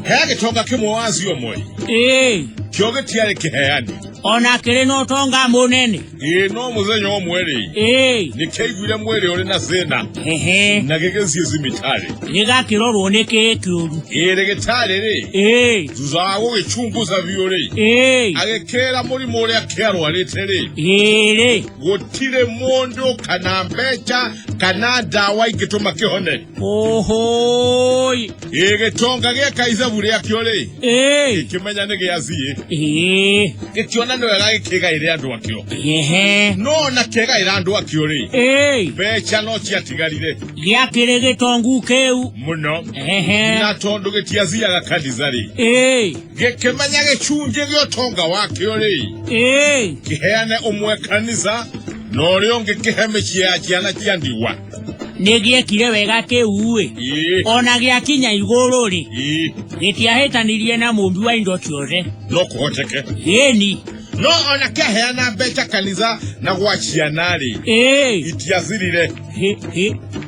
he agĩtonga kĩmwe wa acio moĩ ĩĩ kĩo gĩtiarĩ kĩheani ona kĩrĩ na ũtonga mũnene ĩĩ no mũthenya ũmwe-rĩ ĩĩ nĩkĩaiguire mwĩrĩ ũrĩ na thĩna hehe na gĩgĩthiĩ thibitarĩ gĩgakĩrorwo nĩ kĩĩ kĩũru ĩĩ rĩgĩtarĩ-rĩ ĩĩ thutha wa gũgĩchunguza biũ-rĩ ĩĩ agĩkĩra mũrimũ ũrĩa kĩarwarĩte-rĩ ĩĩrĩ gutire mundu kana mbeca kana ndawa ingituma kihone ohoi ĩ gĩtonga gĩa kaizabu rĩakĩo rĩ ee kĩmenya nĩ gĩa ziĩ ee gĩkĩona nĩ wega gĩkĩgaĩre andũ akĩo ehe no ona kĩgaĩra andũ akĩo rĩ ee mbeca no ciatigarire gĩakĩrĩ gĩtongu kĩu mũno ehe na tondũ gĩtiathiaga kanitha rĩ ee gĩkĩmenya gĩcunjĩ gĩa ũtonga wakĩo rĩ Ĩĩ, kĩheane ũmwe kanitha na ũrĩa ũngĩ kĩhe mĩciĩ ya ciana cia ndigwa nĩgĩekire wega kĩu-ĩ Ĩĩ, ona gĩakinya igũrũ-rĩ ĩĩ, gĩtiahĩtanirie na mũmbi wa indo ciothe no kũhoteke ĩni no ona kĩaheana mbeca kanitha na gwa ciana rĩ ĩĩ itiathirire hĩ hĩ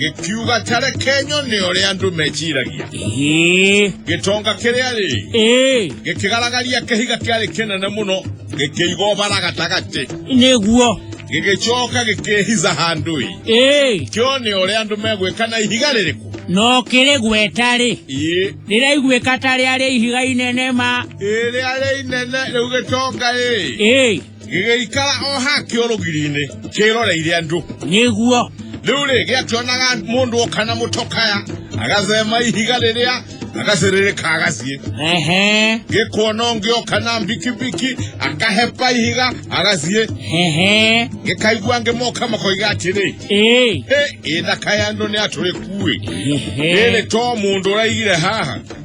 gĩkiuga ta reke nyone ũrĩa andũ meciragia ĩĩ gĩtonga kĩrĩa rĩ ĩĩ gĩkĩgaragaria kĩhiga kĩarĩ kĩnene mũno gĩkĩiga ũbara gatagatĩ nĩguo gĩgĩcoka gĩkĩhiza handũ-ĩ ĩĩ kĩone ũrĩa andũ megwĩka na ihiga rĩrĩkũ no kĩrĩ gweta-rĩ ĩĩ rĩraiguĩka ta rĩarĩ ihiga inene ma ĩrĩa rĩ inene rĩu gĩtonga-ĩ ĩĩ gĩgĩikara o ha kĩo rũgiri-inĩ kĩroreire andũ nĩguo rĩu rĩ gĩakĩonaga mũndũ oka na mũtokaya agacema ihiga rĩrĩa agacĩrĩrĩka agaciĩ ehe gĩkuona ũngĩ oka na mbikibiki akahepa ihiga agaciĩ ehe gĩkaigua angĩ moka makoiga atĩrĩ ee "Hĩ, ĩthaka ya andũ nĩ atũrĩkuĩ ehe rĩrĩ to mũndũ ũraigire haha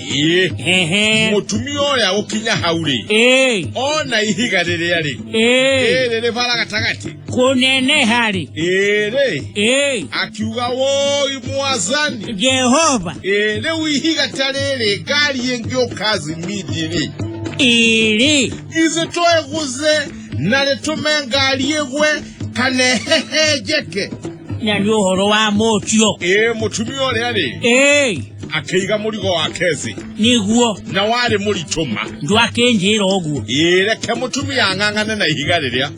ĩĩ Ehe. mũtumia ũrĩa gũkinya hau rĩ Ĩĩ. ona ihiga rĩrĩa rĩ Ĩĩ. rĩrĩ rĩ bara gatagatĩ Kũneneha rĩ. ĩrĩ Ĩĩ. akiuga woi mwazani Jehova. ĩĩ rĩu ihiga ta rĩrĩ ngari ĩngĩũka zimidi rĩ Ĩrĩ. githĩ tũeguze na rĩtũme ngari ĩgwe kana ĩhehenjeke na nĩ ũhoro wa mũtio ĩĩ mũtumia ũrĩa rĩ ĩĩ akĩiga mũrigo wake thĩ nĩguo na warĩ mũritũma ndwakĩnjĩra ũguo ĩĩ reke mũtumia ang'ang'ane na ihiga rĩrĩa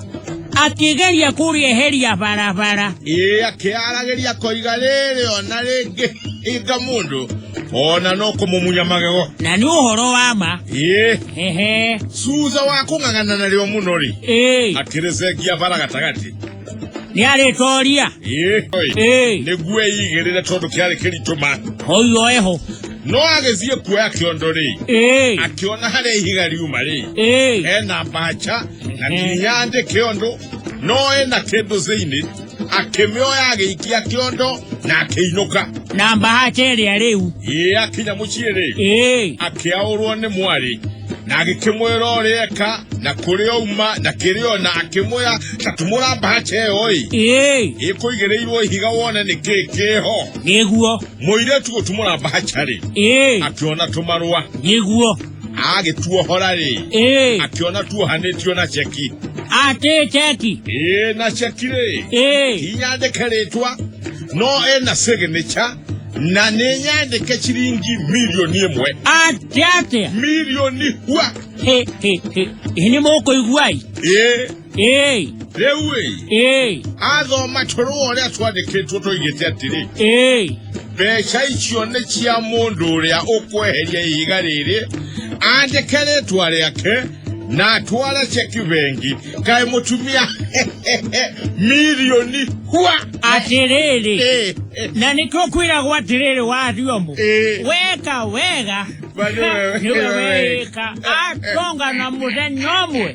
akĩgeria kũrĩeheria barabara ĩĩ akĩaragĩria koiga rĩrĩ ona rĩngĩ hinga mũndũ ona no kũmũmunya magego na nĩ ũhoro wa ma ĩĩ ehe suuza wakung'ang'anana lyo muno li ee akireze gia bara gatagati niarĩtoria Ĩĩ, oi. ee nĩguo eigĩrĩre tondũ kĩarĩ kĩritũma oiyo eho no agĩthiĩ kuoya kĩondo rĩ ee akĩona harĩa ihiga riuma rĩ ee ena mbaca na nginya andĩke ũndũ no ena kĩndũ thĩinĩ akĩmĩoya agĩikia kĩondo na akĩinũka na mbahati ĩrĩa rĩu ĩĩ akinya mũciĩ rĩ ĩĩ akĩaũrwo nĩ mwarĩ na agĩkĩmwĩra ũrĩa eka na kũrĩa auma na kĩrĩa ona akĩmwĩra ta tumũra mbahaca ĩyo ĩ ĩĩ ĩkũigĩrĩirwo ihiga wone nĩ kĩĩ kĩho nĩguo mũirĩtu gũtumũra mbahaca rĩ ĩĩ akĩona tũmarũa nĩguo agĩtuohora rĩ ĩĩ akĩona tuohanĩtio na ceki atĩ ceki ĩĩ na ceki rĩ ĩĩ inyandĩke rĩtwa no ena signature na nĩ nyandĩke ciringi milioni ĩmwe atĩ atĩa milioni hua Hĩ, hĩ, hĩ. Ĩ nĩ mũkũigua-ĩ ĩĩ Ĩĩ, rĩu ĩ ĩĩ, athoma tũrũ ũrĩa twandĩkĩtwo tũigĩte atĩrĩ ĩĩ. mbeca icio nĩ cia mũndũ ũrĩa ũkweheria ihiga rĩrĩ andĩke rĩtwa rĩake na atware ceki bengi kaĩ mũtumia milioni hua Atĩrĩrĩ, Ĩ, ĩ, na nĩkĩo kwĩragwo atĩrĩrĩ wa Thiombo, Ĩ. weka wega Bali wewe- nĩwe weĩka atonga na mũthenya ũmwe